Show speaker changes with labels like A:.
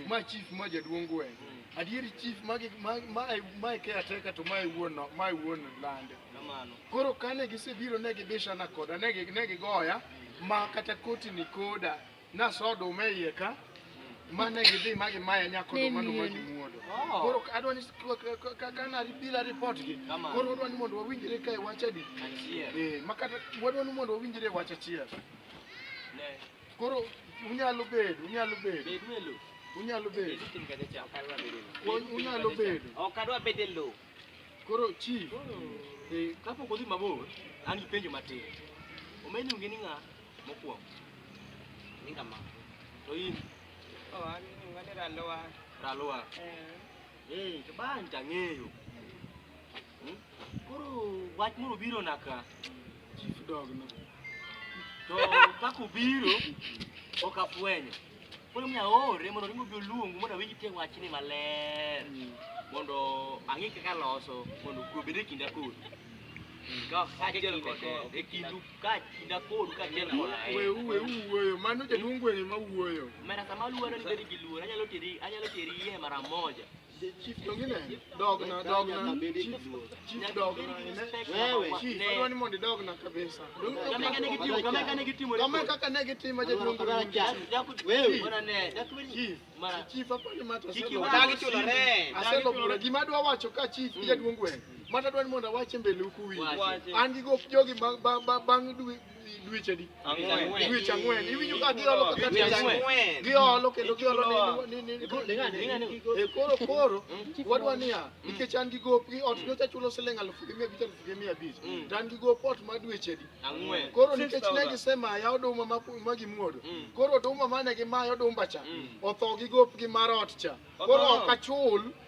A: Ma chief ma jaduong' gweng'. Adier chief magi ma ma ma e caretaker to ma e wuon no- ma e wuon lande. Kamano. Koro kane gisebiro ne gibishana koda ne gi- ne gigoya ma kata koti ni koda naso oduma e iye ka ma ne gidhi ma gimaya nyako Ne oduma no ma miel. gimuodo. Oh. Koro adwa ni ka- ka- ka- ka na bila report gi. Kamano. Koro adwa ni mondo wawinjre ka e wach adi. Achiel. Eh, ma kata wadwa ni mondo wawinjre e wach achiel. Ne. Koro unyalo bedo, unyalo bedo. Bed me lo. Unyalo bedo. Bed tin kacha cha. Unyalo bedo. Ok adwa bedo e lo. Koro chief. Eh, kapok odhi mabor, an gi penjo matin. Omeni onge ni ng'a mokwongo. Ni ng'a ma. To in? Oh, an ni ng'a ni ralowa. Ralowa. Eh. Eh, to ban tang'eyo. Hmm? Koro wach moro biro naka. chief dog no to kaka obiro ok afwenyo koro mi aore mondo ringo bi oluongu mondo awinj tie wachni maler mondo ang'e kaka loso mondo kwe obed e kinda kodu Ka- kaachiel kode e kindu ka kinda kodu kaachiel kod ahero Weu, weu wuoyo. Mano jaduong' gweng' ema wuoyo. mera sama luoro nibedi gi luoro anyalo teri anyalo teri iye mara moja Chief to ngine dogna dogna chief chief dogna ine wewe chief adwani mondo idogna kabisa kama kane gitimo kama kane gitimo kama kaka ne gitimo jaduong wewe bora ne chief mara chief hapa ni mata sio dagi chulo re asego bura gima adwa wacho ka chief jaduong wewe mata adwani mondo awache mbele huku wi an gigo jogi bang bang dwe dweche di dweche ang'wen iwinjo ka giolo makati ang'wen giolo kendo giolo ni ni e koro koro wadwa niya nikech an gi gop gi ot nyocha chulo siling alufu gi mia abich alufu gi mia abich to an gi gop ot ma dweche di koro nikech ne gisemaya oduma ma gimuodo koro oduma mane gimaya odumba cha otho gi gop gi mar ot cha koro ok achul